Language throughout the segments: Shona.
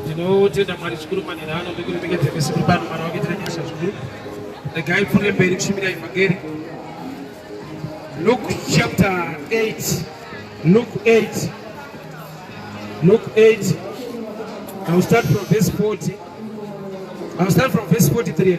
tinotenda mwari zvikuru manhera ano ndikurimekedza misi kuri pano mwana wake tinanyasha zvikuru regai pfuure mberi kushumira evhangeri luke chapter 8 luke 8 luke 8 iwill start from verse 40 iwill start from verse 43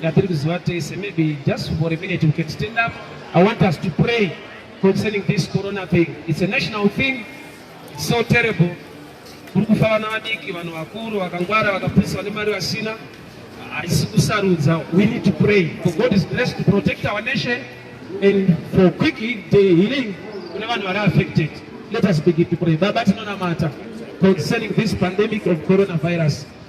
ngatiri kuziva tese maybe just for a minute we can stand up i want us to pray concerning this corona thing it's a national thing it's so terrible kuri kufa vana vadiki vanhu vakuru vakangwara vakapurisa vane mari vasina haisi kusarudza we need to pray for god is blessed to protect our nation and for quick healing kune vanhu vari affected let us begin to pray baba tinonamata concerning this pandemic of coronavirus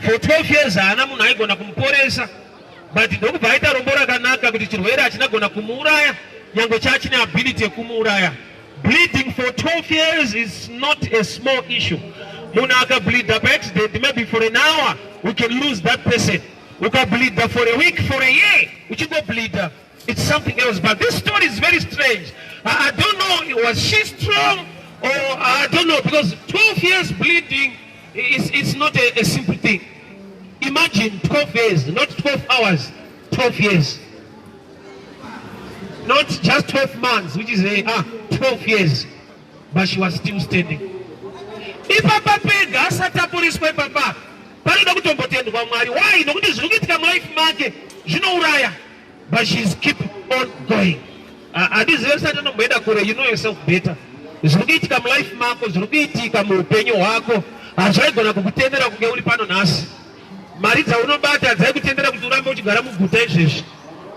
For 12 years haana munhu aigona kumuporesa but ndokubva aita rombo rakanaka kuti chirwere hachina gona kumuuraya nyange chachine ability yekumuuraya. Bleeding for 12 years is not a small issue. Munhu akableeda paaccident maybe for an hour we can lose that person. Ukableeda for a week, for a year uchingobleeda It's something else but this story is very strange. I, I don't know was she strong or I don't know because 12 years bleeding is it's not a, a simple thing. Imagine 12 years, not 12 hours, 12 years. Not just 12 months, which is a, ah, 12 years. But she was still standing. Ipapa pega asatapuriswa ipapa panoda kutombotendwa Mwari. Why? Nokuti zviri kuitika mulife make zvinouraya. but she's keep on going handizive ah, ah, sati anomboenda kure you know yourself better zviri kuitika mulife mako zviri kuitika muupenyu hwako hazvaigona kukutendera kunge uri pano nhasi mari dzaunobata dzaikutendera kuti urambe uchigara muguta izvezvi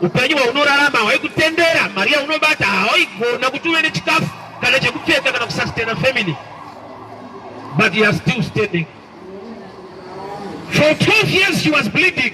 upenyu hwaunorarama hwaikutendera mari yaunobata hawaigona kuti uve nechikafu kana chekupfeka kana kusustaina family but you are still standing for 12 years she was bleeding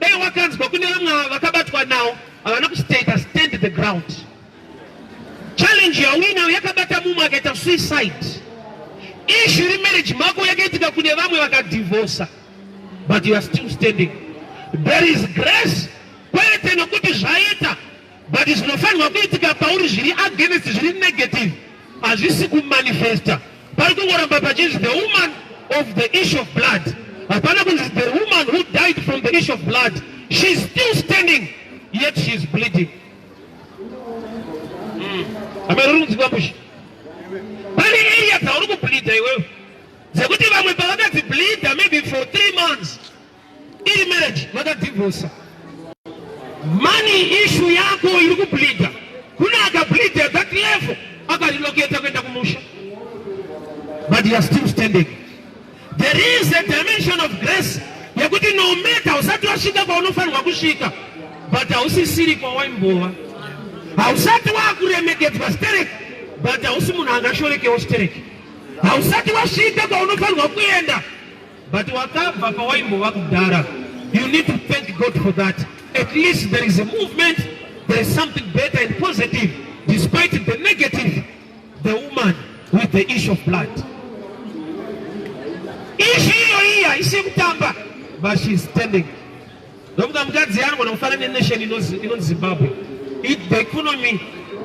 Dai wakanzwa kune vamwe vakabatwa nawo havana kustaita stand the ground. Challenge yauinayo yakabata mumwe akaita suicide. Issue iri marriage mako yakaitika kune vamwe vakadivhosa but you are still standing. There is grace kwete nokuti zvaita but zvinofanirwa kuitika pauri zviri against zviri negative hazvisi kumanifesta pari kungoramba pachinzi the woman of the issue of blood hapana kunzi the woman who died from the issue of blood she is still standing yet she is bleeding hmm. amene uri kunzikwa kushi pane area dzauri kubleeda iwewe dzekuti vamwe pavakadzibleeda maybe for three months Iri marriage vakadivorsa. Money issue yako iri kubleeder. Kuna akableeder that level akarelocate kuenda kumusha. But you are still standing. There is a dimension of grace yekuti no matter usati wasvika kwaunofanirwa kusvika but hausisiri kwawaimbova. Hausati wakuremekedzwa stereki but hausi munhu angashorekewo stereki. Hausati wasvika kwaunofanirwa kuenda But wakabva pawaimbova kudhara. You need to thank God for that. At least there is a movement, there is something better and positive despite the negative. The woman with the issue of blood. Issue hiyo hii haisi kutamba. But she is standing. Ndokuda mukadzi yangu nokufana nenation inonzi Zimbabwe. It, the economy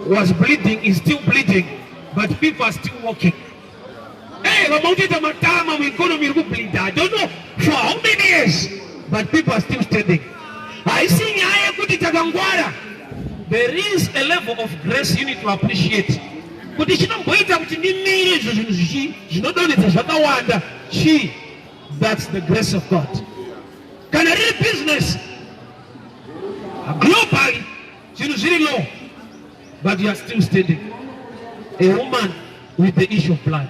was bleeding, is still bleeding, but people are still walking. Hey, vamwe kutoita matama mueconomy iri kublinda. I don't know for how many years but people are still standing. Haisi nyaya yekuti takangwara. There is a level of grace you need to appreciate. Kuti chinomboita kuti ndimire izvo zvinhu zvichi zvinodonhedza zvakawanda chii? That's the grace of God. Kana riri business globally Zvinhu zviri low but you are still standing. A woman with the issue of blood.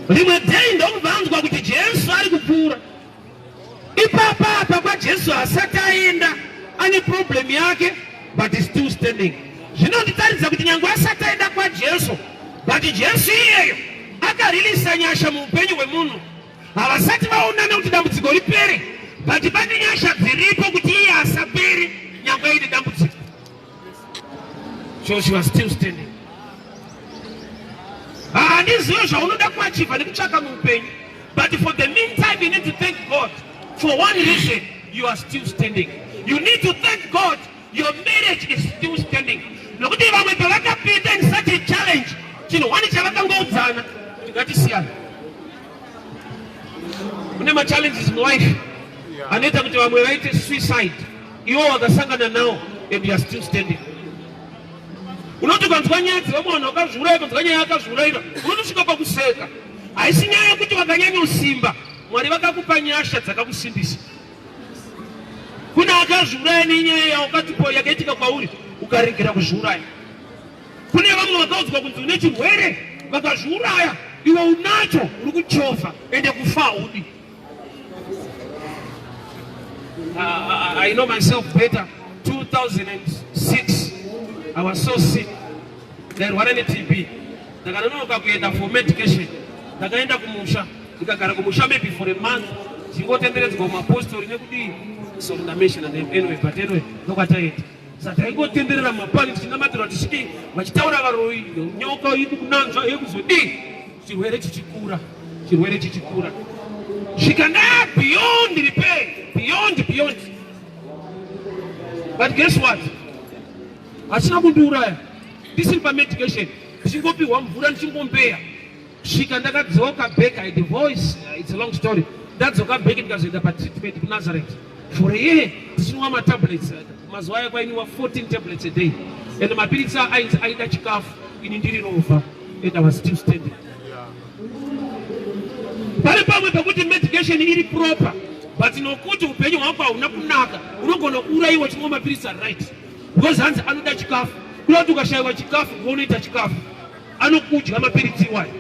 Rimwe day ndokuvanzwa kuti Jesu ari kupfuura. Ipapa apa kwaJesu asati aenda ane problem yake but is still standing. Zvinonditaridza kuti nyange asati aenda kwaJesu but Jesu iyeyo akariliisa nyasha muupenyu hwemunhu Havasati vaonana kuti dambudziko ripere but pane nyasha dziripo kuti iye asapere nyangwe aine dambudziko. So she was still standing. Handizive zvaunoda kuachiva nekutsvaka muupenyu but for the meantime you need to thank God for one reason you are still standing. You need to thank God Your marriage is still standing. Nokuti vamwe pavakapinda in such a challenge, chinhu wani chavakangoudzana kuti ngatisiyana. Kune ma challenges in life anoita kuti vamwe vaite suicide. Iwo wakasangana nawo and you are still standing. Unoti ukanzwa nyaya dzevamwe vanhu vakazviuraya, ukanzwa nyaya yakazviurayira, unotosvika pakuseka. Haisi nyaya yekuti vakanyanya usimba, Mwari vakakupa nyasha dzakakusimbisa. Kune akazviuraya nenyaya yaukatipo yakaitika kwauri ukaregera kuzviuraya. Kune vamwe vakaudzwa kunzi une chirwere vakazviuraya, iwe unacho uri kuchova ende kufa haudi. Uh, ah, I know myself better. 2006 I was so sick ndairwara neTB ndakanonoka kuenda for medication ndakaenda kumusha ndikagara kumusha maybe for a month ndingotenderedzwa mapostori nekudii so ndameshona name anyway but anyway ndokwataenda sataingotenderera mapani tichinamatira tisviki vachitaura varoyi nyoka yedu kunanzva yekuzodii chirwere chichikura chirwere chichikura zvikana beyond repair beyond beyond but guess what hachina kundiuraya ndisiri pamedication ndichingopihwa mvura ndichingombeya kusvika ndakadzoka back i divorce uh, it's a long story ndadzoka back ndikazoenda patreatment kunazareth for a year ndichinwa matablets uh, mazuva ayo kwainiwa 14 tablets a day and mapiritsi ainzi aida chikafu ini ndiri rova and i was still standing pari pamwe pekuti medication iri proper but nokuti upenyu hwako hauna kunaka unogona kuurayiwa chimwe mapiritsi ari right because hanzi anoda chikafu kuda kuti ukashayiwa chikafu unoita chikafu anokudya mapiritsi iwayo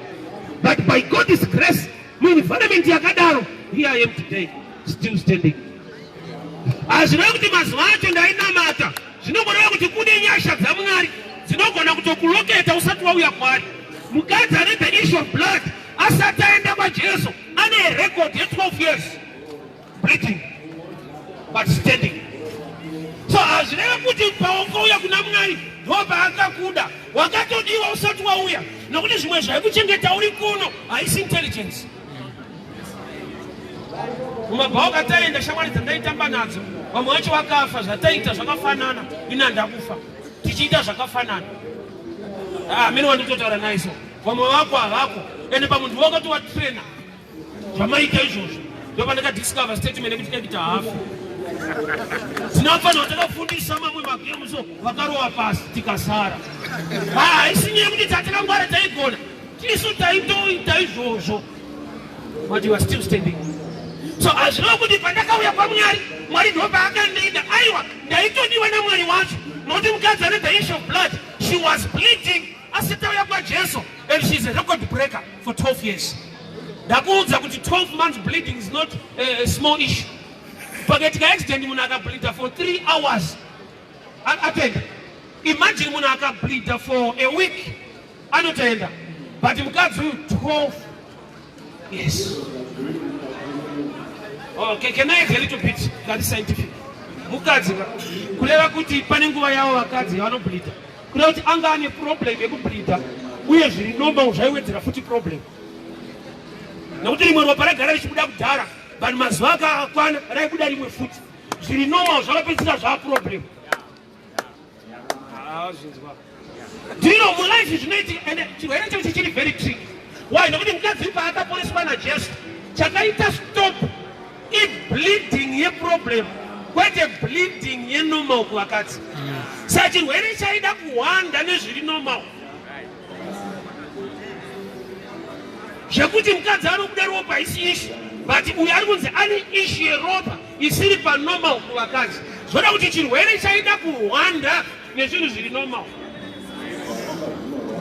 but by God's grace muenvironment yakadaro here I am today still standing hazvireva kuti mazuva acho ndainamata zvinongoreva kuti kune nyasha dzamwari dzinogona kutokuloketa usati wauya kwari mukadzi ane the issue of blood asati aenda kwajesu ane record ye 12 years Bleeding but standing. So hazvireve kuti paukauya kuna Mwari ndopaachakuda. Wakatodiwa usati wauya nokuti zvimwe zvaikuchengeta uri kuno haisi intelligence. Mumabhawa kataenda shamwari dzandaitamba nadzo vamwe vacho vakafa zvataita zvakafanana ina ndakufa tichiita zvakafanana amene ah, wanditotaura naiso vamwe vako havako ende pamunhu wakati watrena zvamaita izvozvo ndovanekadiscover statement ekuti ekita hafu tinofanirwa takafundisa mamwe magemuso vakarowa pasi tikasara haisi nyaya kuti tatakangwara taigona tisu taitoita izvozvo but you are still standing so hazvireva kuti pandakauya kwamwari mwari ndopaakandiida aiwa ndaitodiwa namwari wacho nokuti mukadzi ane the issue of blood she was bleeding asi tauya kwajesu and she is a record breaker for 12 years ndakuudza kuti 12 months bleeding is not eh, a small issue pakaitika accident munhu akableeda for 3 hours atenda imagine munhu akableeda for a week anotoenda but mukadzi uyu 12 Yes. Oh, can, can I a little bit that is scientific? Mukadzi kureva kuti pane nguva yavo vakadzi vanobleeda. Kureva kuti anga ane problem yekubleeda uye zviri normal zvaiwedzera futi problem. Nokuti rimwe ropa ragara richibuda kudhara vanhu mazuva akakwana raibuda rimwe futi. Zviri normal zvakapedzisira zvaa problem. ndiro mulife zvinoiti and chirwere chacho chiri very trick why nokuti mukadzi paakaporeswa najesu chakaita stop ibleeding yeproblem kwete bleeding yenormal kuvakadzi sa chirwere chaida kuhwanda nezviri normal zvekuti mukadzi anobuda ropa isi ishi but uyo ari kunzi ane ishi yeropa isiri panormal kuvakadzi zvoda kuti chirwere chaida kuhwanda nezvinhu zviri normal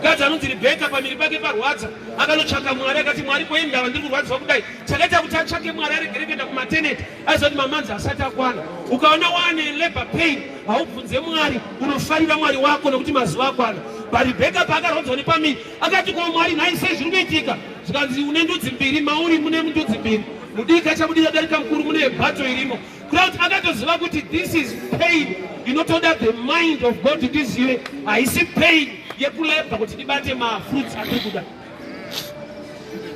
mukadzi anonzi rebeka pamiri pake parwadza akanotsvaka mwari akati mwari kwei ndava ndiri kurwadziwa kudai chakaita kuti atsvake mwari aregere kuenda kumateneti aizoti mamanzi asati akwana ukaona waane labor pain haubvunze mwari unofarira mwari wako nekuti mazuva akwana parebeka paakarwadziwa nepamiri akati kwa mwari nhai sei zviri kuitika zvikanzi une ndudzi mbiri mauri mune ndudzi mbiri mudiki achabudira darika mukuru mune bato irimo crowd akatoziva kuti this is pain inotoda the mind of god kuti izive haisi pain yekulebha kuti ndibate mafruits atiri kuda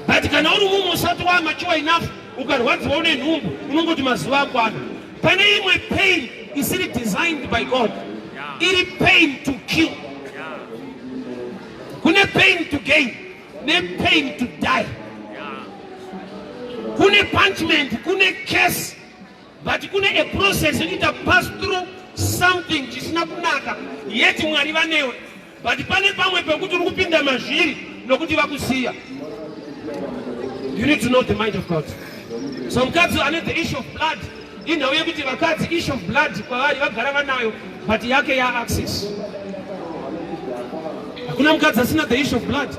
but kana uri mumwe usati wamachuwa enough ukarwadziwa une nhumbu unongoti mazuva akwana pane imwe pain isiri designed by god iri pain to kill kune pain to gain ne pain to die kune punishment kune case but kune a process inoita pass through something chisina kunaka yet mwari vanewe but pane pamwe pekuti uri kupinda mazviri nokuti vakusiya you need to know the mind of god so mukadzi ane the issue of blood Inhau yekuti vakadzi issue of blood kwavari vagara vanayo but yake ya access. Hakuna mukadzi asina the issue of blood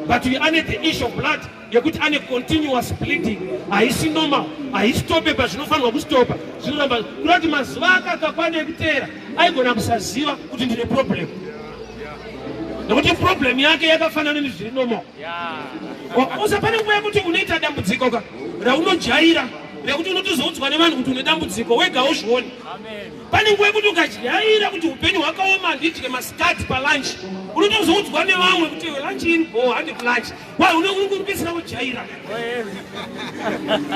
but we ane the issue of blood yekuti ane continuous bleeding haisi normal haisitope pazvinofanirwa kustopa zvinoramba kuda kuti mazuva ake akakwana ekuteera aigona kusaziva kuti ndine problem nekuti problem yake yakafanana nezviri normal Usa pane nguva yekuti unoita dambudziko ka raunojaira rekuti unotozoudzwa nevanhu kuti une dambudziko wega uzvione. Pane nguva yekuti ukajaira kuti upenyu hwakaoma handidye masikati palunch unotozoudzwa nevamwe kuti lunch in bo handi lunch why une uri kupedzisira kujaira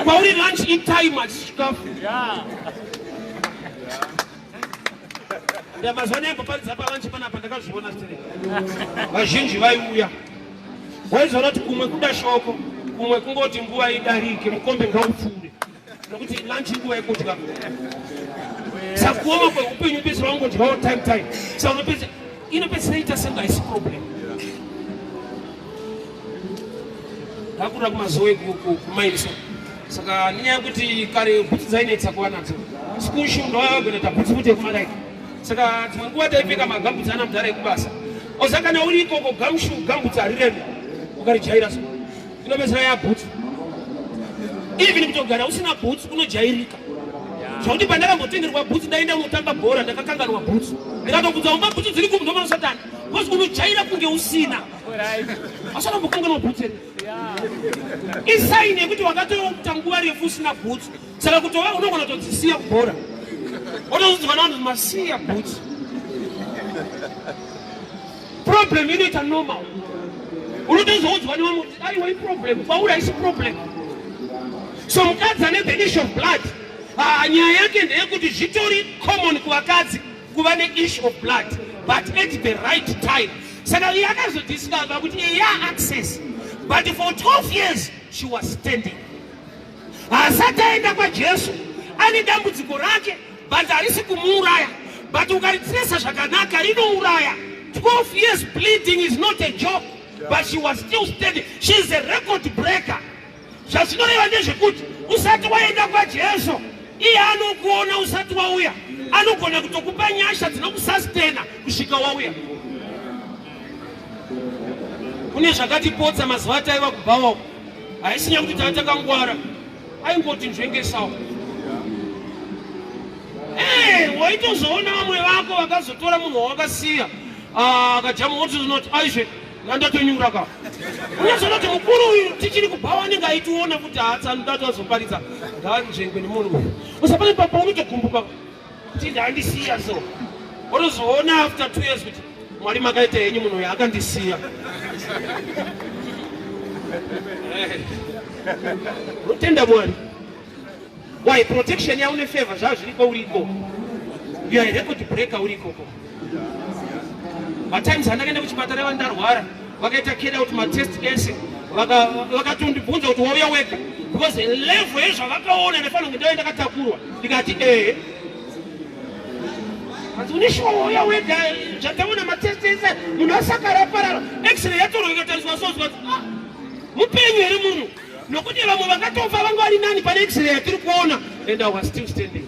kwauri lunch in time achikafu mazuva ano yamboparidza pavanche panapa ndakazviona stere vazhinji vaiuya waizoona kuti kumwe kuda shoko kumwe kungoti nguva idarike mukombe ngaupfuure nokuti lanchi nguva yekudya sakuoma kweupenyu pese vangodyawo time time saunopedza inopedzisira ita senga haisi problem ndakuda kumazowe kumairiso saka nenyaya yekuti kare bhutsu dzainetsa kuva nadzo school shoe ndoyagona bhutsu kuti yekumadai saka dzimwe nguva taipfeka magambutsi ana mudhara ekubasa oza kana uri ikoko gamshu gambutsi harireme ukarijaira so inopedzisira yabhutsu even kutogara usina bhutsu unojairika zvokuti pandakambotengerwa bhutsu ndaenda unotamba bhora ndakakanganwa bhutsu ndikatobvunza umba bhutsu dziri kumu ndomana satani bcause unojaira kunge usina asatombokanganwa bhutsu ere isaini yekuti wakatoita nguva refu usina bhutsu saka kutova unogona kutodzisiya kubhora otozudzikana vanhu masiya bhutsu problem inoita normal unotozoudzwa nevamwe kuti aiwa iproblem kwauri haisi problem so mukadzi ane the issue of blood ah, nyaya yake ndeyekuti zvitori common kuvakadzi kuva neissue of blood but at the right time saka iye akazodiscover kuti eya access but for 12 years she was standing haasati aenda kwajesu ane dambudziko rake Bhanzi harisi kumuuraya but ukaritiresa zvakanaka rinouraya 12 years bleeding is not a joke but she was still standing she is a record breaker zvazvinoreva ndezvekuti usati waenda kwajesu iye anokuona usati wauya anogona kutokupa nyasha dzinokusastena kusvika wauya kune zvakatipotsa mazuva ataiva kubhawa haisinya kuti tava takangwara Aimboti nzvengesawo. Hey, eh, waitozoona vamwe vako vakazotora munhu wawakasiya ah, akajamu woti zinoti aizve nandatonyura ka unozoona kuti mukuru uyu tichiri kubhawa anenge aitiona kuti haatsanudatu azoparidza ndanzvengwe nemunhu uyu usapane papa unotogumbuka kuti ndandisiya so otozoona after two years kuti mwari makaita henyu munhu uyo akandisiya unotenda mwari why protection yaune favor zvazviriko uriko you are a record breaker urikoko matimes andakaenda kuchipatara ava ndarwara vakaita keda kuti matest ese vakatondibvunza kuti wauya wega because level yezvavakaona nefanira kuti ndave ndakatakurwa ndikati ee hanzi une shuwa wauya wega zvataona matest ese munhu asakara aparara x-ray yatorwa ikatariswa sozwa ah, mupenyu here munhu nokuti vamwe vakatofa vanga vari nani pane x-ray yatiri kuona and i was still standing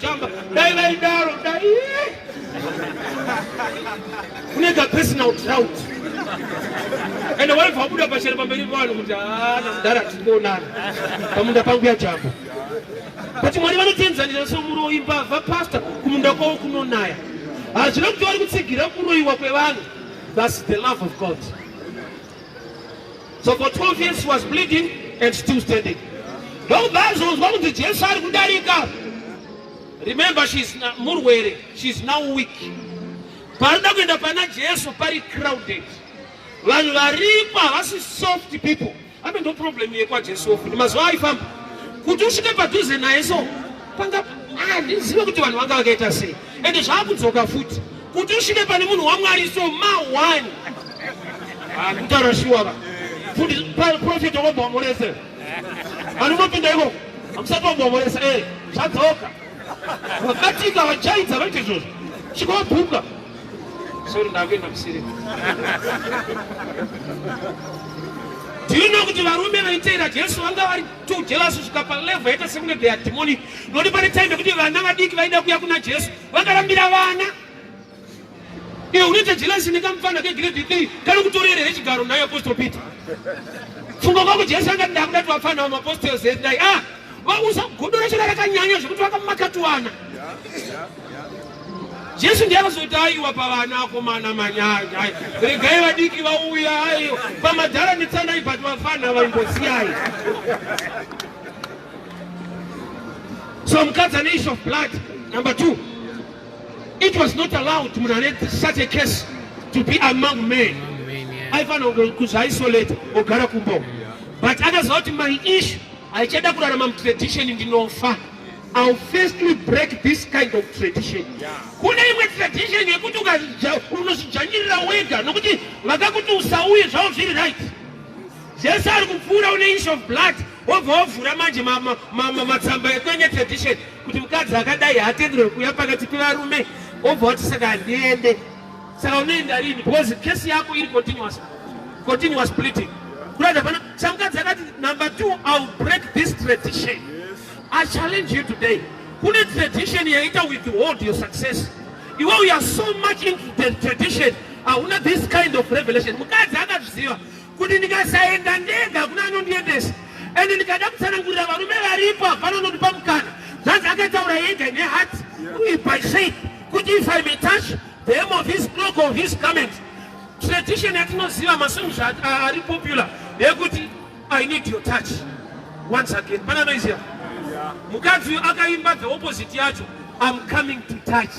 Chamba dai vaidaro dai kune ka personal drought and waibva wabuda pachero pamberi pavanhu kuti haana mudhara tikuonana pamunda pangu yajamba but mwari vanotienzanisa somuroyi mbavha pasta kumunda kwavo kunonaya hazvina kuti vari kutsigira kuroyiwa kwevanhu thus the love of god So for 12 years he was bleeding and still standing. Ndokubazonzwa kunzi Jesu ari kudarika. Remember she is murwere, she is now weak. Parida kuenda pana Jesu pari crowded. Vanhu varipo havasi soft people. Ame ndo problem yekwa Jesu ofu. Mazuva aifamba. Kuti usvike padhuze naye so panga handizive ah, kuti vanhu vanga vakaita sei. Ende zvaakudzoka futi. Kuti usvike pane munhu waMwari so ma one. Ah, mtara shuwa ba. Fundi prophet wakomba wamurese. Anunopinda iko. Amusati wamba wamurese. Eh, zvadzoka. Vakatika vajaidza vaite izvozvo. Chikobuka. Sorry ndakuenda kusiri. tinoona kuti varume vaiteera jesu vanga vari too jealous kusvika palevel yaita sekunge they are demonic nokuti pane time yekuti vana vadiki vaida kuya kuna jesu vakarambira vana iwe unoita jealousy nekamufana kegrade 3 kari kutorere here chigaro nayo apostle peter funga kwako jesu anga nda kuda tivafana vamapostels dai a ah, usagodora chona rakanyanya zvekuti vakamakatuwana jesu ndiye akazoti aiwa pavana akomana manyanya regai vadiki vauya aiwa pamadhara netsandai but vafana vaimbosiyai So mukadzi ane issue of blood number two it was not allowed munhu ane such a case to be among men aifanira kuzviisolate ogara kumba but akaziva kuti my issue haichada kurarama mutradition ndinofa I'll firstly break this kind of tradition. Kune imwe tradition yekuti unozvidzvanyirira wega nokuti vakakuti usauye zvavo zviri right. Jesu ari kupfuura une issue of blood wobva wavhura manje matsamba ekwenya tradition kuti mukadzi akadai haatenderwe kuuya pakati pevarume wobva wati saka handiende saka unoenda rini because kesi yako iri continuous continuous bleeding kurada pana samukadzi akati number two ill break this tradition i challenge you today kune tradition yaita with the world your success iwe uya so much into the tradition hauna this kind of revelation mukadzi akazviziva kuti ndikasaenda ndega kuna anondiendesa ende ndikada kutsanangurira varume varipo hapana unondipa mukana zvanzi akataura yega ine hat uye by shape kuti if i may touch the hem of his cloak of his comment tradition yatinoziva masomizva ari popular yekuti i need your touch once again pana noiziva mukadzi uyu akaimba the opposite yacho i'm coming to touch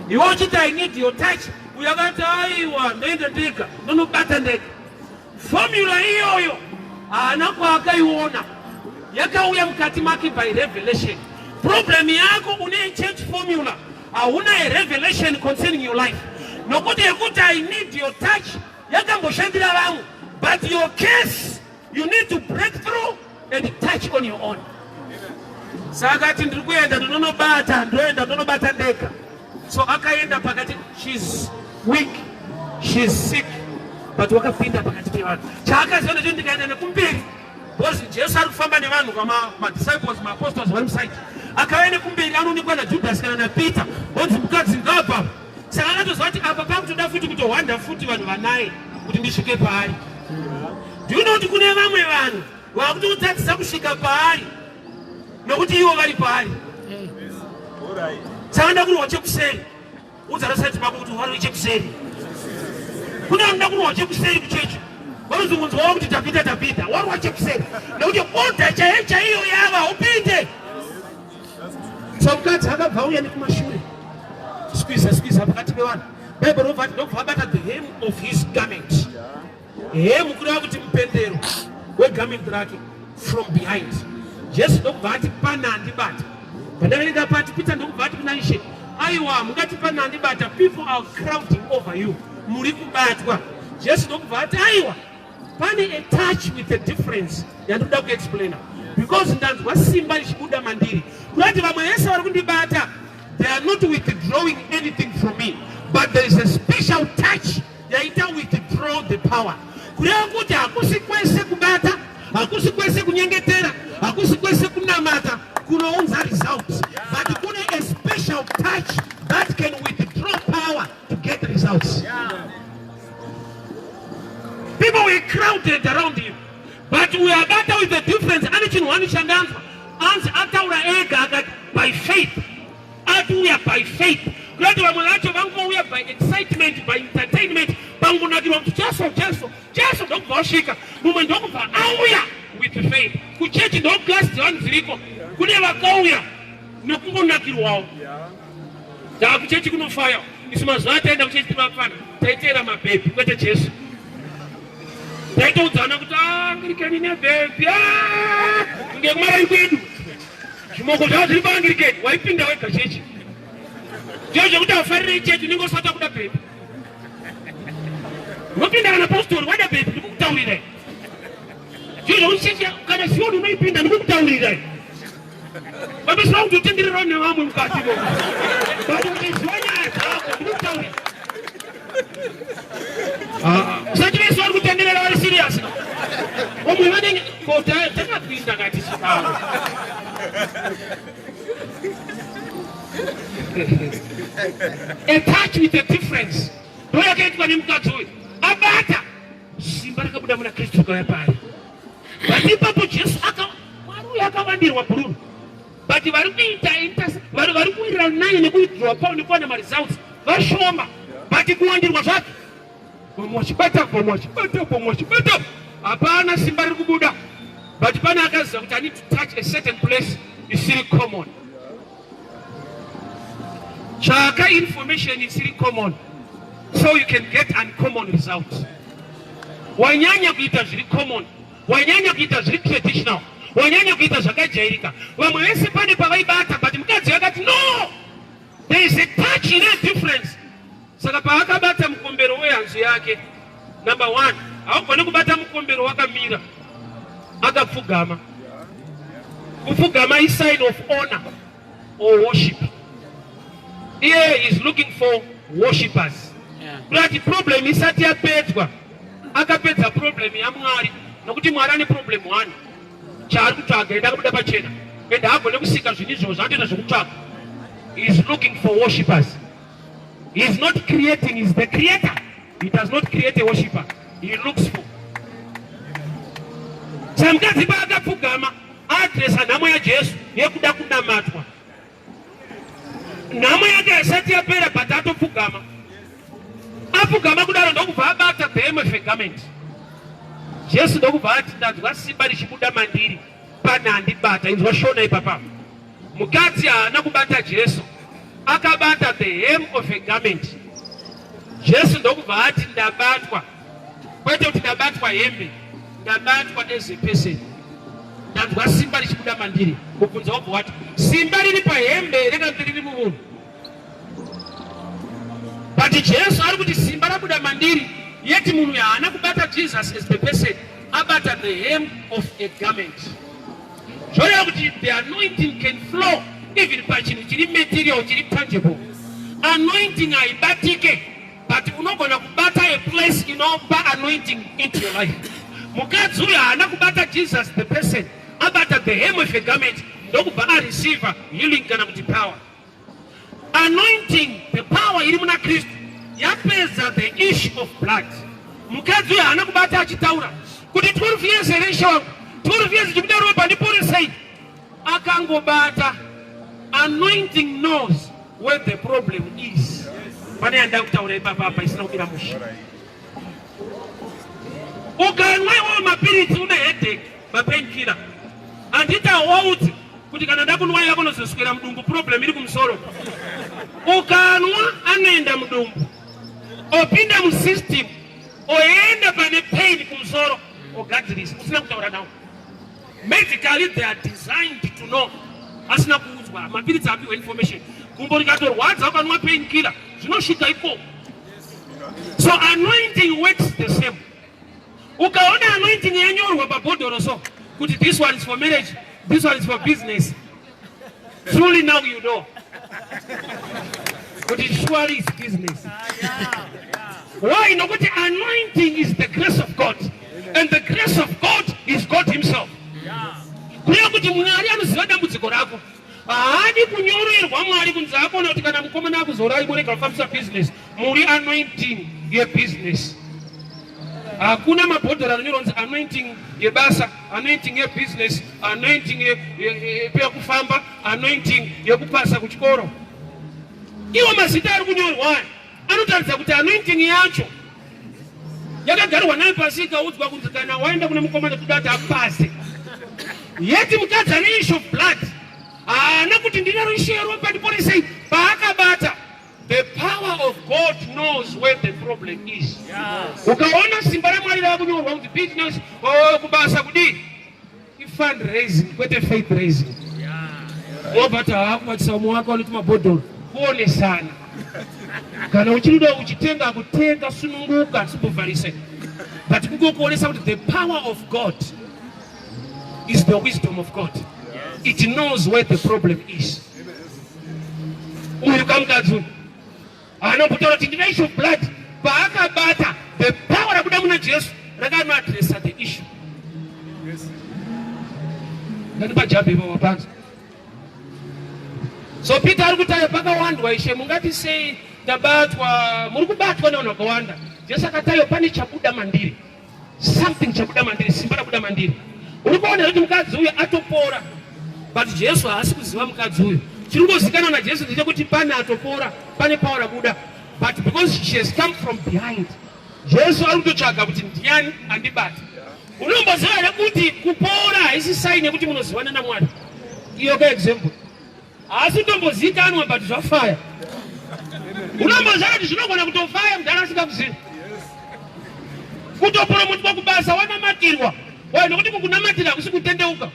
iwe uchiti i need your touch uyo akati aiwa ndoenda ndega ndonobata ndega fomula iyoyo haana kwaakaiona yakauya mukati make by revelation problem yako une church formula hauna a revelation concerning your life nokuti yekuti i need your touch yakamboshandira vamwe but your case You need to break through and touch on your own. Saka ati ndiri kuenda ndonobata ndoenda ndonobata ndega. So akaenda pakati she's weak she's sick but wakapinda pakati pevanhu chaakaziva necho ndikaenda nekumberi because Jesu ari kufamba nevanhu kama ma disciples ma apostles vari musaiti akauya nekumberi anoonekwa na Judas kana na Peter onzi mukadzi ngabva saka anotozva kuti apa pakutoda futi kutohwanda futi vanhu vanaye kuti ndisvike paari ndiuno kuti kune vamwe vanhu vakutotadzisa kusvika paari nokuti ivo vari paari saka nda kurwa chekuseri udzarasati pako kuti wari chekuseri kune vanoda kurwa chekuseri kuchechi vanozungunzwawo kuti tapita tapita warwa chekuseri nekuti oda chaiyo chaiyo yava upinde Mfamukadzi akabva auya nekumashure skwiza skwiza pakati pevanhu bible rinobva ati ndokubva abata the hem of his garment hem kureva kuti mupendero wegarment rake from behind jesu ndokubva ati pana andibata pandavene ndapati pita ndokubva ati kuna ishe aiwa mungati pana andibata people are crowding over you muri kubatwa jesu ndokubva ati aiwa Pane a touch with a difference yandoda kuexplaina because ndanzwa simba richibuda mandiri kurati vamwe vese vari kundibata they are not withdrawing anything from me but there is a special touch yaita withdraw the power kureva kuti hakusi kwese kubata hakusi kwese kunyengetera hakusi kwese kunamata kunounza results but kune a special touch that can withdraw to get results. Yeah. People were crowded around him. But we are better with the difference. Ani chinhu wani chandanzwa. Anzi ataura ega akati by faith. Atuya by faith. Kunoti vamwe vacho vangouya by excitement, by entertainment, pangunakirwa kuti Jesu, Jesu, Jesu ndokubva wasvika. Mumwe ndokubva auya with faith. Kuchechi ndokugasi dzevanu dziriko. Kune vakauya nokungonakirwawo. Yeah. Takuchechi kunofaya isu mazuva ataenda kuchechi timafana taiteera mabhebhi kwete Jesu. Taitoudzana kuti ah, angirikeni nebhebhi ah, ngekumarayi kwedu zvimoko zvavo zviri paangirikeni waipinda wega chechi ndizvo zvekuti afarire ichechi unenge usati akuda bhebhi unopinda kana postori wada bhebhi ndikukutaurirai ndizvo zvekuti chechi kana sioni unoipinda ndikukutaurirai vamesva kutotendererawo nevamwe mukati mo but ukaziva nyaya dzako ndikutaura usati vese vari kutenderera vari serious vamwe vanenge kota takapinda kati chidaro a touch with a difference ndoyakaitwa nemukadzi uyu abata Simba rakabuda muna Kristu rikauya paari. But ipapo Jesu aka Mwari uyu akavandirwa bhururu. But vari kuita interse vari vari kuwirira naye nekuwithdraw kwavo nekuwana maresults vashoma. But kuwandirwa zvacho vamwe vachibata vamwe vachibata vamwe vachibata hapana simba riri kubuda but pane akaziva kuti i need to touch a certain place isiri common Tsvaka information isiri common so you can get uncommon results. Wanyanya kuita zviri common, wanyanya kuita zviri traditional, wanyanya kuita zvakajairika. Vamwe vese pane pavaibata but mukadzi akati no, there is a touch in a difference. Saka paakabata mukombero wehanzu yake, number one, haugone kubata mukombero wakamira, akapfugama. Kupfugama is sign of honor or worship. Here is looking for worshippers. But problem isati yapedzwa, akapedza problem yaMwari nokuti Mwari ane problem one chaari kutsvaga enda kubuda pachena enda agone kusika zvinhu izvozvo zvatoita zvekutsvaga is looking for worshippers He is not creating, he is the creator. He does not create a worshiper. He looks for. Samukadzi paakapfugama adresa nhamo yaJesu yekuda kunamatwa. Nhamo yake haisati yapera but atopfugama. Apfugama kudaro ndokubva abata the hem of a garment. Jesu ndokubva ati ndanzwa simba richibuda mandiri pane andibata. Inzwa shona ipapa. Mukadzi haana kubata Jesu, akabata the hem of a garment. Jesu ndokubva ati ndabatwa, kwete kuti ndabatwa hembe, ndabatwa as a person. Ndanzwa simba richibuda mandiri. Mubvunzo wobva wati simba riri pahembe here kana kuti riri mumunhu? But Jesu ari kuti simba rabuda mandiri, yet munhu haana kubata Jesus as the person, abata the hem of a garment. Zvoreva kuti the anointing can flow even pachinhu chiri material chiri tangible. Anointing haibatike but unogona kubata a place inopa anointing into your life. Mukadzi uyo haana kubata Jesus the person, abata the hem of a garment ndokubva areceiver healing kana kuti power. Anointing, the power iri muna Kristu yapedza the issue of blood. Mukadzi uyo haana kubata achitaura kuti 12 years here ishe wangu 12 years chikuda ropa ndiporesei akangobata anointing knows where the problem is pane yandakutaura ipapa apa isina kubira musha ukanwa iwawo mapiritsi une headache mapainkira handiti hawaudzi kuti kana ndakunwa yako nozoswera mudumbu problem iri kumusoro ukanwa anoenda mudumbu opinda musystem oenda pane pain kumusoro ogadzirisa usina kutaura nawo medically they are designed to know asina kuudzwa mapiritsi apiwa information gumbo rikatorwadza ukanwa pain killer zvinosvika ikoko So anointing works the same. Ukaona anointing yanyorwa pabhodhoro so kuti this one is for marriage, this one is for business. Truly now you know. Kuti surely is business. Why? Nokuti anointing is the grace of God. And the grace of God is God himself. Kuya kuti Mwari anoziva dambudziko rako. Haadi kunyorerwa mwari kunzi akona kuti kana mukomana akuzorai morega kufambisa business muri anointing yebusiness. Hakuna mabhodhoro anoronzi anointing yebasa, anointing yebusiness, anointing yekufamba, anointing yekupasa kuchikoro. Iwo mazita ari kunyorwa aya. Anotaridza kuti anointing yacho yakagarwa nayo pasi ikaudzwa kunzi kana waenda kune mukomana toda kuti apase yeti mukadzi ane issue of blood haana kuti ndine rushero pandiporesei paakabata the power of god knows where the problem is ukaona simba ramwari rava kunyorwa kunzi business oh, kubasa kudii ifund raising kwete faith raising wobva tavakubatisa umwe wake vanoti mabhodhoro kuonesana kana uchirida uchitenga kutenga sununguka sibuvharise but kungokuonesa kuti the power of god is the wisdom of god it knows where the problem is uyu kamukadzi Anombotaura kuti ndine issue of blood paakabata the power rabuda muna Jesu rakanoadressa the issue. Ndanipa jabi baba panzi. So Peter ari kutaya pakawandwa ishe mungati sei ndabatwa muri kubatwa nevanhu vakawanda. Jesu akatayo pane chabuda mandiri. something chabuda mandiri simba rabuda mandiri uri kuona kuti mukadzi uyu atopora but jesu haasi kuziva mukadzi uyu chiri kungozikanwa najesu ndechekuti pane atopora pane pawa rabuda but because she has come from behind jesu ari kutotsvaga kuti ndiani andibata unomboziva here kuti kupora haisi saini yekuti munozivana namwari iyo ka example Haasi tombozikanwa but zvafaya. Unomboziva kuti zvinogona kutofaya mudhara asingakuzivi. Kutopuromutwa kubasa wanamatirwa. Why nokuti kukunamatira hakusi kutendeuka.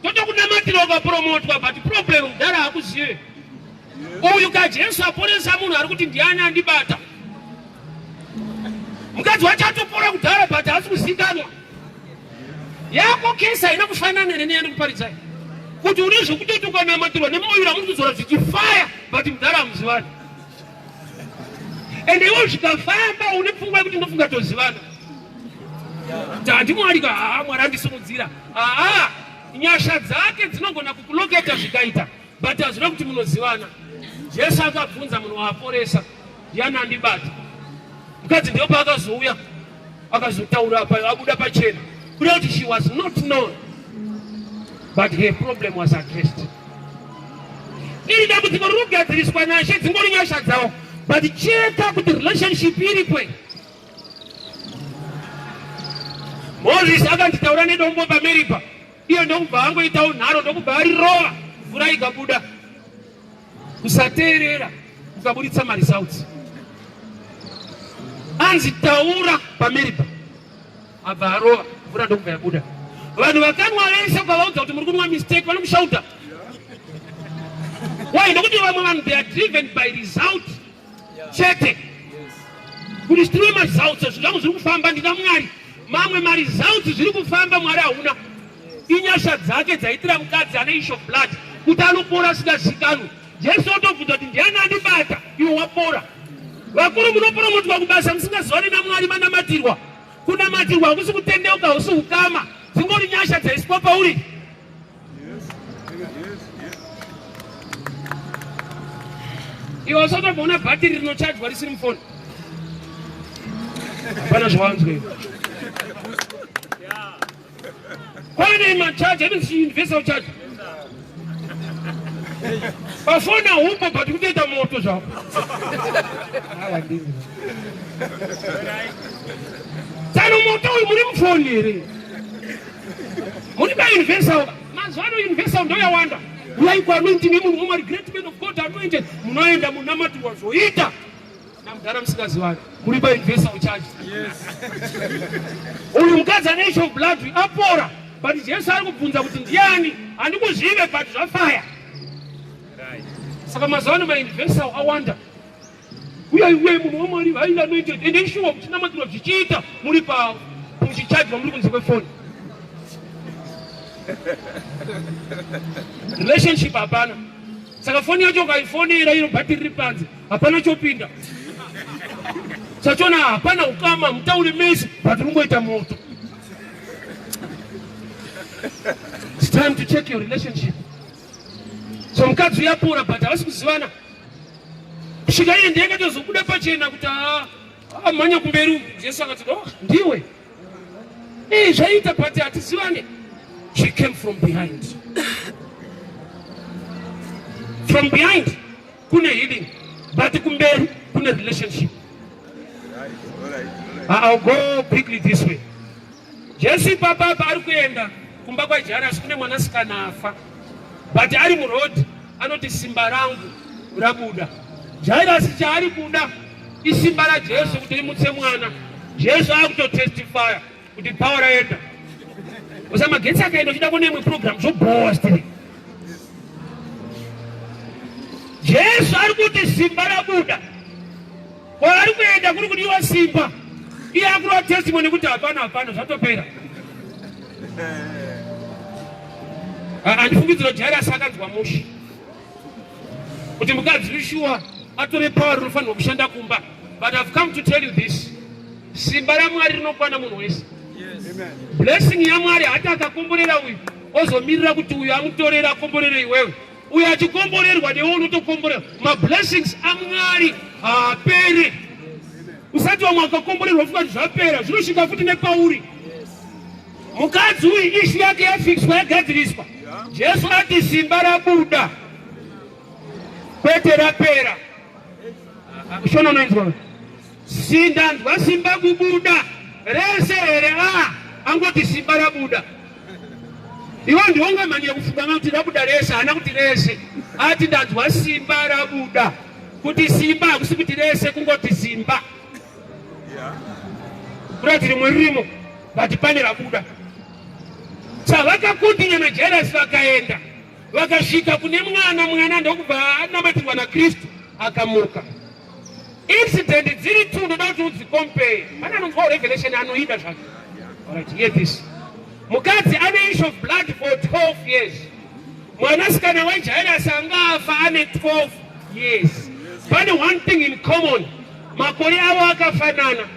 Totokunamatira ukapuromotwa but problem mudhara hakuzive. Uyu kaJesu aponesa munhu ari kuti ndiani andibata. Mukadzi wacho atopora kudhara but haasi kuzikanwa. yako kesi haina kufanana here neyandi kuparidzai kuti une zvekutoti ukanamatirwa nemoyura muri kuzora zvichifaya but mudhara hamuzivani ende iwo zvikafamba une pfungwa yekuti ndofunga tozivana tati mwari ka haa mwari andisimudzira haa nyasha dzake dzinogona kukuloketa zvikaita But hazvina kuti munozivana. Jesu akabvunza munhu waaporesa ndiani andibata. Mukadzi ndipo paakazouya akazotaura pa abuda pachena kuda kuti she was not known but her problem was addressed. Iri dambudziko riri kugadziriswa nashe dzingori nyasha dzawo but cheka kuti relationship iri kwe Moses akanditaura nedombo pameripa Iyo ndokubva angoitawo nharo ndokubva arirova mvura ikabuda. Kusateerera kukaburitsa maresults. Anzi taura pamiripa abva arova mvura ndokubva yabuda. Vanhu vakanwa vese ukavaudza kuti muri kunwa mistake vanomushauta. Why? Ndokuti vamwe vanhu they are driven by result. chete kuti zvitirwe maresults zvingango zviri kufamba ndina mwari mamwe maresults zviri kufamba mwari hauna inyasha dzake dzaitira mukadzi ane isho blood kuti anopora asingazikanwi jesu otobvunza kuti ndiani andibata iwe wapora vakuru munoporomotiwa kubasa musingazivani namwari manamatirwa kunamatirwa hakusi kutendeuka husi ukama dzingori nyasha dzaiswa pauri iwe usati wamboona bhatiri rinochajwa risiri mufoni hapana zvawanzwei kwane machaji anoziuniversal chaji pafoni ahumbo but kutoita moto zvako tsano moto uyu muri mufoni here Muri pa universal. Mazwano universal ndo yawanda. Ulai kwa anointing yemu mumari great men of God anointed. Munoenda munamati wazoita. Na mdara msikaziwani. Muri pa universal charge. Yes. Uyu mkadzi ane issue of blood apora. But Jesu ari kubvunza kuti ndiani? Andikuzive but zvafaya. Right. Saka mazwano ma universal awanda. Uye uye munhu wamwari highly anointed and ensure kuti namatiro zvichiita muri pa muchichajwa muri kunze kwefoni relationship hapana saka foni yacho ukaifonera iro bhatiri riri panze hapana chopinda sachona hapana ukama mutaure mese but rungoita moto it's time to check your relationship so mukadzi uyapora but havasi kuzivana kusvika iye ndiye akatozobuda pachena kuti haa ah, amhanya ah, kumberi uku jesu akati no oh, ndiwe ee eh, zvaiita but hatizivane she came from behind from behind kune healing but kumberi kune relationship I'll go quickly this way Jesu ipapa apa ari kuenda kumba kwaJairasi kune mwanasikana afa, but ari muroad anoti simba rangu rabuda. Jairasi chaari kuda isimba raJesu kuti rimutse mwana. Jesu akutotestifya kuti power raenda osa magetsi akaenda uchida kuona imwe program zvobhowa stiri jesu ari kuti simba rabuda Kwaari kuenda kuri kudiwa simba. Iye akurova testimony kuti hapana hapana zvatopera. Andifungidzira kuti Jairasi akanzwa mushe. Kuti mukadzi Yeshua atore power rinofanirwa kushanda kumba. But I've come to tell you this. Simba raMwari rinokwana munhu wese. Blessing yaMwari hata akakomborera uyu ozomirira kuti uyu amutorera akomborere iwewe. uyo achikomborerwa newe unotokomborerwa mablessings amwari haapere usati vamwe akakomborerwa futi kuti zvapera zvinosvika futi nepauri mukadzi uyu ishu yake yafixwa yagadziriswa jesu ati simba rabuda kwete rapera shona unoinzwa Sisi ndanzwa simba kubuda rese here? Ah, angoti simba rabuda. Iwo ndiwonga mani yekufungama kuti rabuda rese, haana kuti rese. Ati ndanzwa simba rabuda. Kuti simba hakusi kuti rese kungoti simba. Kurati rimwe ririmo vati pane rabuda. Chavakakundinya naJairasi vakaenda vakasvika kune mwana mwana ndokubva anamatirwa naKristu akamuka. Incident dziri two ndoda kuti udzicompare. Pane anonzwa revelation anoida zvake. Alright, hear this. Mukadzi ane issue of blood for 12 years. Mwanasikana waJairus anga afa ane 12 years. Pane one thing in common. Makore avo akafanana.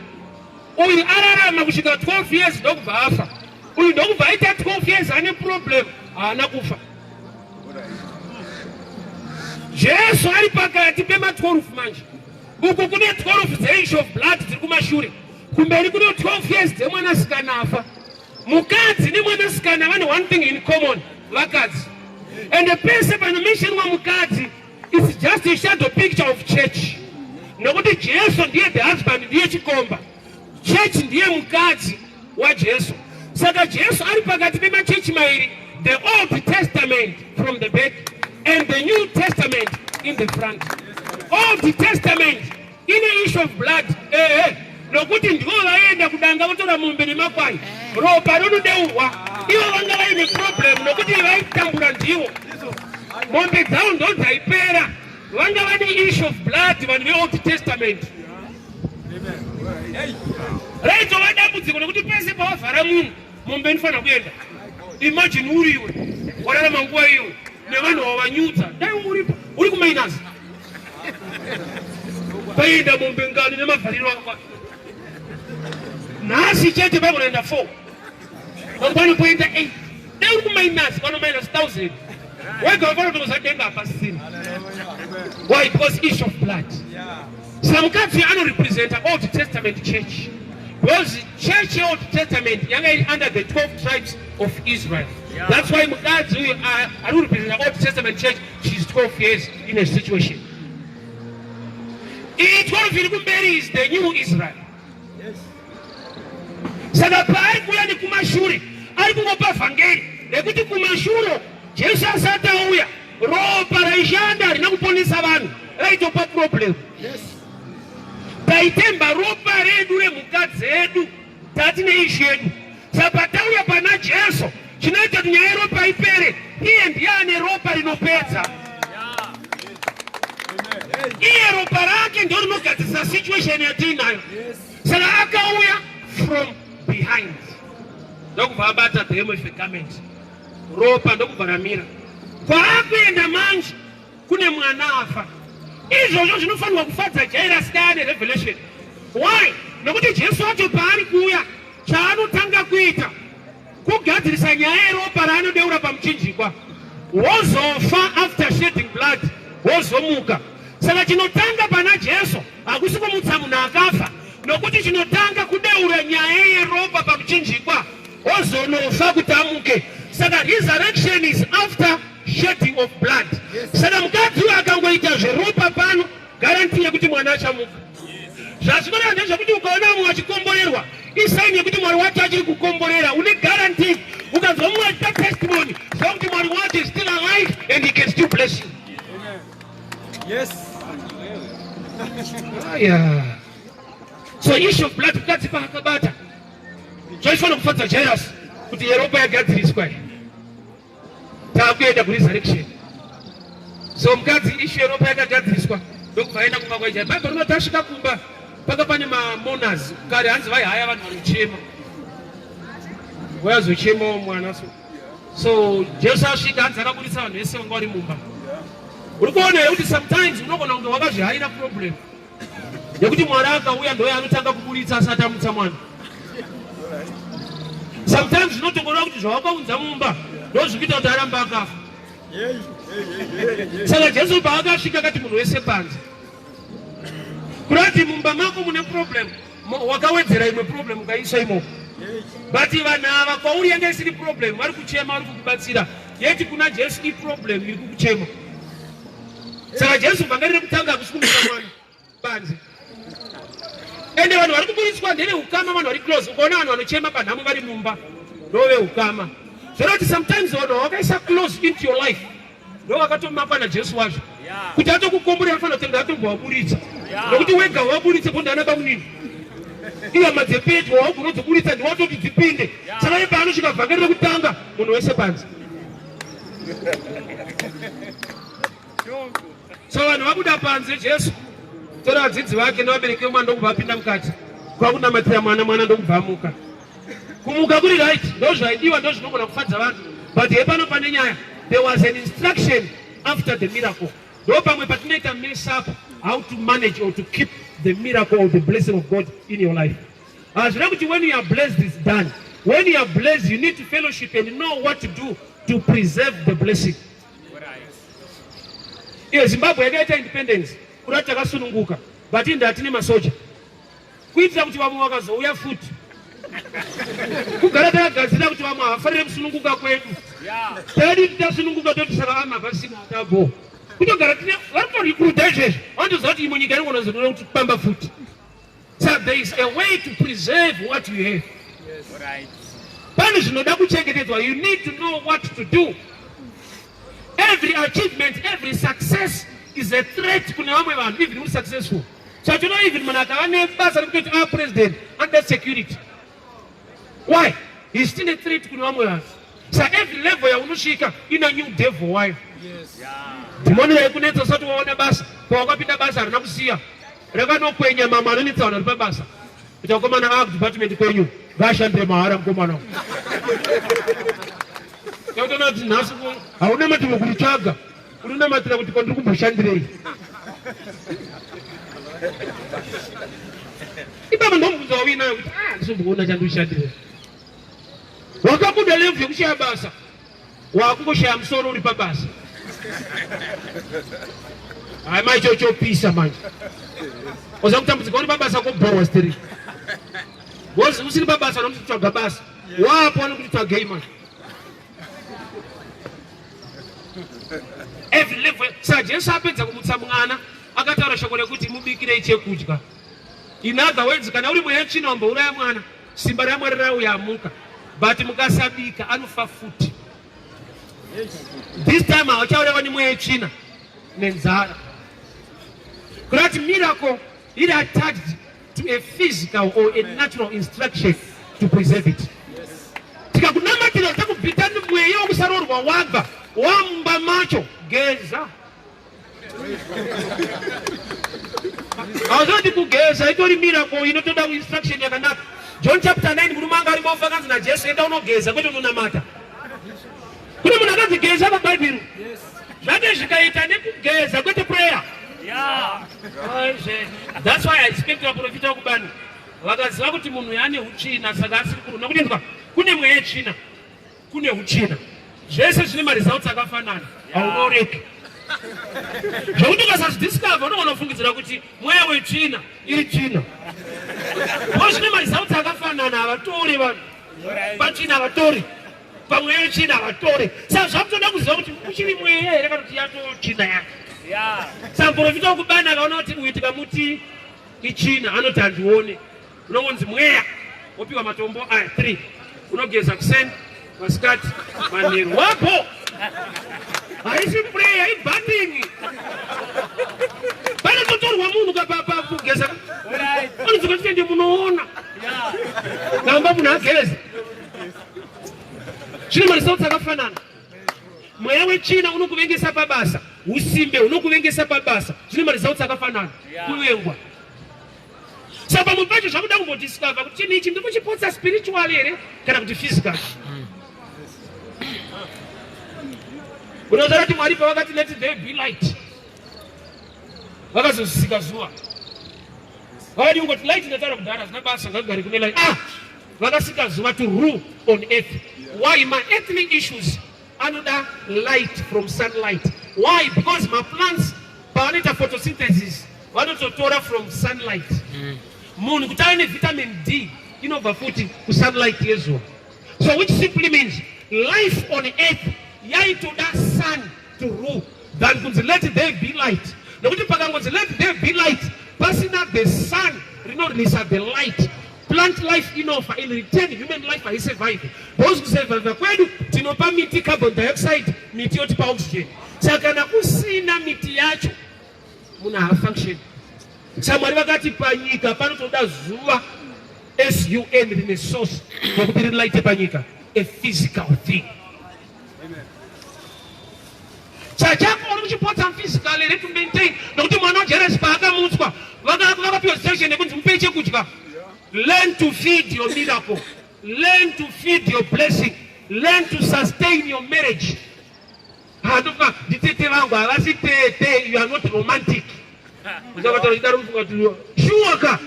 Uyu ararama kusvika 12 years ndokubva afa. Uyu ndokubva aita 12 years ane problem haana kufa. Jesu ari pakati pema 12 manje. Uku kune 12 dzenshi of blood dziri kumashure. Kumberi kune 12 years dzemwana sikana afa. Mukadzi nemwana sikana vane one thing in common, vakadzi. And the person pano mention wa mukadzi is just a shadow picture of church. Nokuti Jesu ndiye the husband ndiye chikomba. Chechi ndiye mukadzi waJesu. Saka Jesu ari pakati pemachechi mairi, the Old Testament from the back and the New Testament in the front. Old Testament ine issue of blood. Eh, eh. Nokuti ndivo vaienda kudanga votora mombe nemakwai. Ropa rinodeurwa. Ivo vanga vaine problem nokuti vaitambura ndivo. Mombe dzavo ndo dzaipera. vanga vane issue of blood vanhu veold testament raitova dambudziko nekuti pese pawavhara munhu mombe inofanira kuenda imagine uri iwe wararama nguva iwe nevanhu wavanyudza dai uripo uri kumainasi paienda mombe ngani nemavhariro akwa nhasi chete pakunoenda four mangwani poenda eight dai uri kumainasi pano minus thousand Wega wafana tokuzadenga hapasisina. Why? Because issue of blood. Samukadzi anorepresenta Old Testament church. Because church Old Testament yanga iri under the 12 tribes of Israel. Yeah. That's why mukadzi uyu anorepresenta Old Testament church she's 12 years in a situation. Iyi 12 iri kumberi is the new Israel. Saka paari kuuya nekumashure ari kungopa vhangeri rekuti kumashure Jesu asati auya ropa raishanda harina kuponesa vanhu raitopa problem. Taitemba ropa redu remhuka dzedu tati neizvi yedu Saka tauya pana Jesu chinoita kuti nyaya yeropa ipere, iye ndiye ane ropa rinopedza. Iye ropa rake ndio rinogadzirisa situation yatiinayo. Saka akauya from behind ndokubva abata demo ife garment ropa ndokubva ramira kwaakuenda manje kune mwana afa izvozvo zvinofanirwa kufadza jairasi daya nerevelation why nokuti jesu wacho paari kuuya chaanotanga kuita kugadzirisa nyaya yeropa raanodeura pamuchinjikwa wozofa after shedding blood wozomuka saka chinotanga pana jesu hakusi kumutsa munhu akafa nokuti chinotanga kudeura nyaya yeropa pamuchinjikwa wozonofa kuti amuke saka resurrection is after shedding of blood saka mukadzi uyo akangoita zveropa pano garanti yekuti mwana achamuka zvazvinonaa ndezvekuti ukaona vamwe vachikomborerwa isaini yekuti mwari wacho achiri kukomborera une garanti ukanzwa mumwe achita testimony zva kuti mwari wacho is still alive and he can still bless you yes aya so issue of blood mukadzi paakabata zvachifanira kufadza jairasi kuti yeropa yagadziriswa takuenda kuresurrection so mukadzi ishu yeropa yakagadziriswa ndokubva aenda kumba kwaija bhaibheri rinoti asvika kumba paka pane mamonas kare hanzi vaihaya vanhu vanochema vayazochemawo mwana so so jesu asvika hanzi akaburitsa vanhu vese vanga vari mumba uri kuona here kuti sometimes unogona kunge wakazvihaira problem nekuti mwari akauya ndoye anotanga kuburitsa asati amutsa mwana sometimes zvinotokorera kuti zvawakaunza mumba ndozvikuita kuti arambe akafa saka jesu paakasvika akati munhu wese panze kurati mumba mako mune problem wakawedzera imwe problem ukaisa imo but vanhu ava kwauri yanga isiri problem vari kuchema vari kukubatsira yeti kuna jesu iproblem iri kukuchema saka jesu banga riri kutanga hakusi kumisa mwana banzi ende vanhu vari kuburitswa ndeve ukama vanhu vari close ukaona vanhu vanochema panhamo vari mumba ndove ukama zvoroti sometimes vanhu vakaisa close into your life ndovakatomima pana jesu wazvo kuti atokukomborera anofanira kuti ndaatombwa waburitsa nokuti wega waburitsa ko ndaana bamunini ihama dzepedyo waugona dzoburitsa ndiwatoti dzipinde saka ipaanosvika vhangeri rekutanga munhu wese panze so vanhu vabuda panze jesu tora vadzidzi vake nevabereki vemwana ndokubva apinda mukati kwakunamatira mwana mwana ndokubva amuka Kumuka kuri right ndozvaidiwa ndozvinogona kufadza vanhu but hepano pane nyaya there was an instruction after the miracle ndo pamwe patinoita mess up how to manage or to keep the miracle or the blessing of God in your life hazvina ah, kuti when you are blessed is done when you are blessed you need to fellowship and know what to do to preserve the blessing iyo zimbabwe yakaita independence kuda takasununguka but indatine masoja kuitira kuti vamwe vakazouya futi kugara takagadzira kuti vamwe havafanire kusununguka kwedu tadi tasununguka toti saka vamwe havasina tabo kutogara tine vari kutorikuruta izvezvi vanotoziva kuti imwe nyika inongonozonora kuti pamba futi so there is a way to preserve what you have pane zvinoda kuchengetedzwa you need to know what to do every achievement every success is a threat kune vamwe vanhu even uri successful So you know even Manaka anebasa rekutoti a president under security. Why? He's still a threat kune vamwe vanhu. So every level yaunosvika ina new devil wayo. Yes. Yeah. Dhimoni yaikunetsa usati waona basa, pawakapinda basa harina kusiya. Rakanokwenya mama anonetsa vanhu vari pabasa. Kuti vakomana vava kudepartment kwenyu vashandire mahara mukomana uyu. Tautoona kuti nhasi hauna mativo kuritsvaga. Unonamatira kuti kwandiri kumboshandirei? Ibaba ndomubvunza wawinayo kuti ah ndisomboona chandishandirei. Wakabuda level yekushaya basa. Wakungoshaya musoro uri pabasa. Hayi manje chochopisa manje. Oza kutambudzika uri pabasa kobhowa stiri. Wozi usiri pabasa nokuti tsvaga basa. Wapo anokuti tsvagei manje. sa jesu apedza kumutsa mwana akataura shoko rekuti mubikirei chekudya in other words kana uri mweya tsvina wambouraya mwana simba ramwari rauya amuka but mukasabika anofa futi this time hauchaureva nemweya tsvina nenzara kurati miracle iri attached to a physical or a natural instruction to preserve it tikakunamatira takubvita mweya wekusaroorwa wabva wamumba macho geza hazvoti kugeza itori miracle inotoda instruction yakanaka john chapter 9 murume anga ari mofa akanzi najesu enda unogeza kwete unonamata Kune munhu akanzi geza pabhaibheri zvake zvikaita nekugeza kwete prayer thats why i expect vaprofita wekubani vakaziva kuti munhu yaane utsvina saka asiri kuruna kunenzwa kune mweya yetsvina kune utsvina zvese zvine maresults akafanana haunoreki zvekuti ukasazvidiscover unogona kufungidzira kuti mweya wetsvina iri tsvina o zvine maresults akafanana havatori vanhu patsvina havatori pamweya yetsvina havatore saka zvakutoda kuziva kuti uchiri mweya here kana kuti yatotsvina yake saka muprofita wekubani akaona kuti uyu tikamuti itsvina anoti handione unongonzi mweya wopiwa matombo aya three unogeza kuseni masikati manheru wapo haisi prayer ibandingi pane totorwa munhu kapapa kugeza anozokatitende munoona namba munhu ageze Zvine maresults akafanana. Mweya wechina unokuvengesa pabasa, usimbe unokuvengesa pabasa. Zvine maresults akafanana. Kuvengwa. Saka pamwe pacho zvakuda kumbodiscover kuti chinhu ichi ndikuchipotsa spiritual here kana kuti physical. Mm. Unozoona kuti Mwari pavakati let there be light vakazozisika zuva vakadi kungoti light ndataura kudhara zina basa ngagare kune light ah vakasika zuva to rule on earth why ma earthly issues anoda light from sunlight why because ma plants pavanoita photosynthesis vanototora from sunlight mm. munhu kuti ave nevitamin d inobva futi kusunlight yezuva so which simply means life on earth yaitoda sun to rule than kunzi let there be light nekuti pakangonzi let there be light pasina the sun rinonisa the light Plant life inofa in return human life haisurvive because kusurvive kwedu tinopa miti carbon dioxide miti yotipa oxygen saka kana kusina miti yacho munhu haafunction saka mwari vakati panyika panotoda zuva sun rine source yokuti rilighte panyika a physical thing chachako uri kuchipotsa physically retu maintain nokuti mwana wajeresi paakamutswa vakapiwa section yekunzi mupei chekudya learn to feed your miracle learn to feed your blessing learn to sustain your marriage handofa nditete vangu havasi tete you are not romantic uchavatara chidaro mufunga tuliwa shuwaka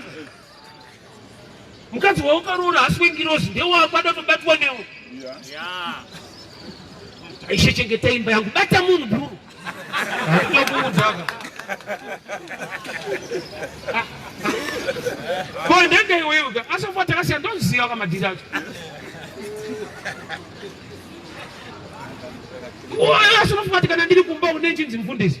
mukadzi waukaroora hasi wengirozi ndewako ada kutobatwa newe aishe chengeta imba yangu bata munhu bhuru akutokuudzaka ko ndenge iweuka asofa takasiya ndoziva kamadhiri acho asi unofunga tikana ndiri kumba une chinzi mfundisi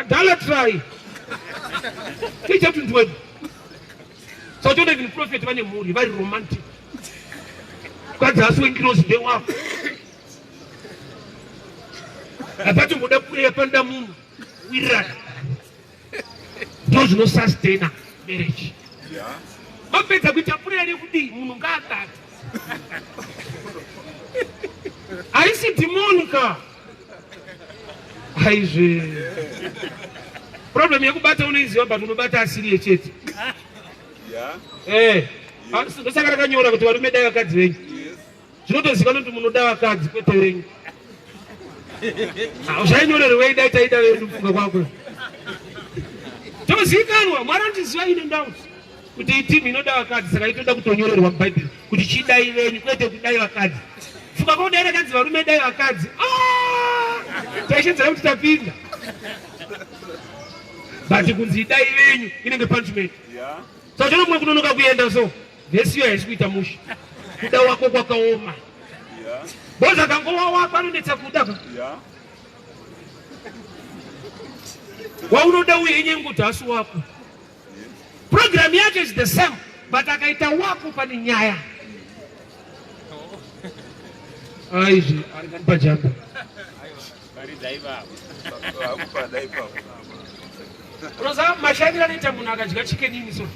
Idolatry. Teacher to ndwebu. So don't even prophet vane mhuri vari romantic. Kwadzi asi wengirozi ndewako. Apacho ngoda kuya panda munhu wirana. Ndizvo zvinosustaina marriage. Yeah. Mapedza kuita prayer yekudii munhu ngaadada. Haisi dhimoni ka. Aizve. Problem yekubata unoiziva but unobata asiri yechete. Yeah. Eh. Ah, ndosaka rakanyora kuti varume dai vakadzi venyu. Yes. Zvinotozikanwa kuti munoda vakadzi kwete venyu. Ah, zvainyorerwei dai taida vedu kufunga kwako. Tozikanwa, mwari andiziva ine ndauti. kuti iyi timu inoda vakadzi saka itoda kutonyorerwa mubhaibheri kuti chidai venyu kwete kudai vakadzi fuka kodaira kanzi varume dai vakadzi ah! taishedzera kuti tapinda but kunzi idai venyu inenge punishment saka chonomwe kunonoka kuenda so vesiyo haisi kuita musha kuda wako kwakaoma bozi akangowa wako anonetsa kuda ka waunoda uye inyenguti hasi wako Program yake is the same but akaita wako pane nyaya aizvi ah, ari kanipa jambo unoziva mashandiro anoita munhu akadya chicken ini so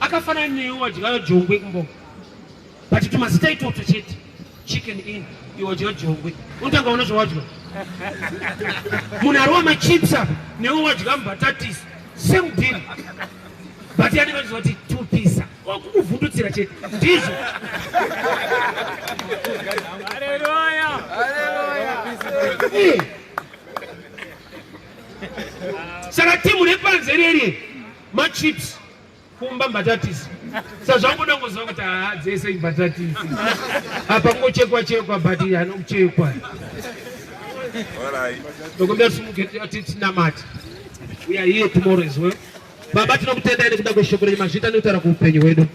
akafanana newe wadya jongwe kumbo but tumazita itotso chete chicken in iwodyo jongwe unotanga ona zvawadya munhu ari wamachips apa newe wadya mubhatatis same deal but yani vanoziva kuti tupisa kukuvhundutsira chete ndizvo eh. saka timu repanze reri machips Kumba mbatatisi. Sazvangoda ngoziva kuti haa dzese imbatatisi. Apa kungochekwa chekwa but hano kuchekwa. Ndokumbira simuke ati tinamati. We are here tomorrow as well. Baba tinokutendai nekuda kweshoko renyu mazvita nekutaura kuupenyu hwedu.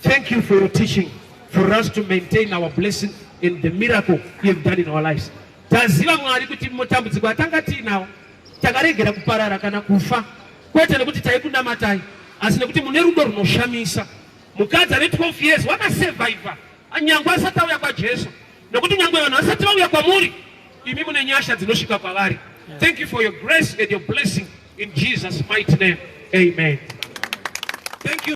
Thank you for your teaching for us to maintain our blessing and the miracle you have done in our lives. Taziva Mwari kuti matambudziko atanga tiinawo takaregera kuparara kana kufa. Kwete nekuti taikunamatai asi nekuti mune rudo runoshamisa. Mukadzi ane 12 years wakasurvivor nyangwe asati auya kwaJesu nekuti nyangwe vanhu vasati vauya kwamuri imi mune nyasha dzinosvika kwavari. Thank you for your grace and your blessing in Jesus mighty name. Amen. Thank you.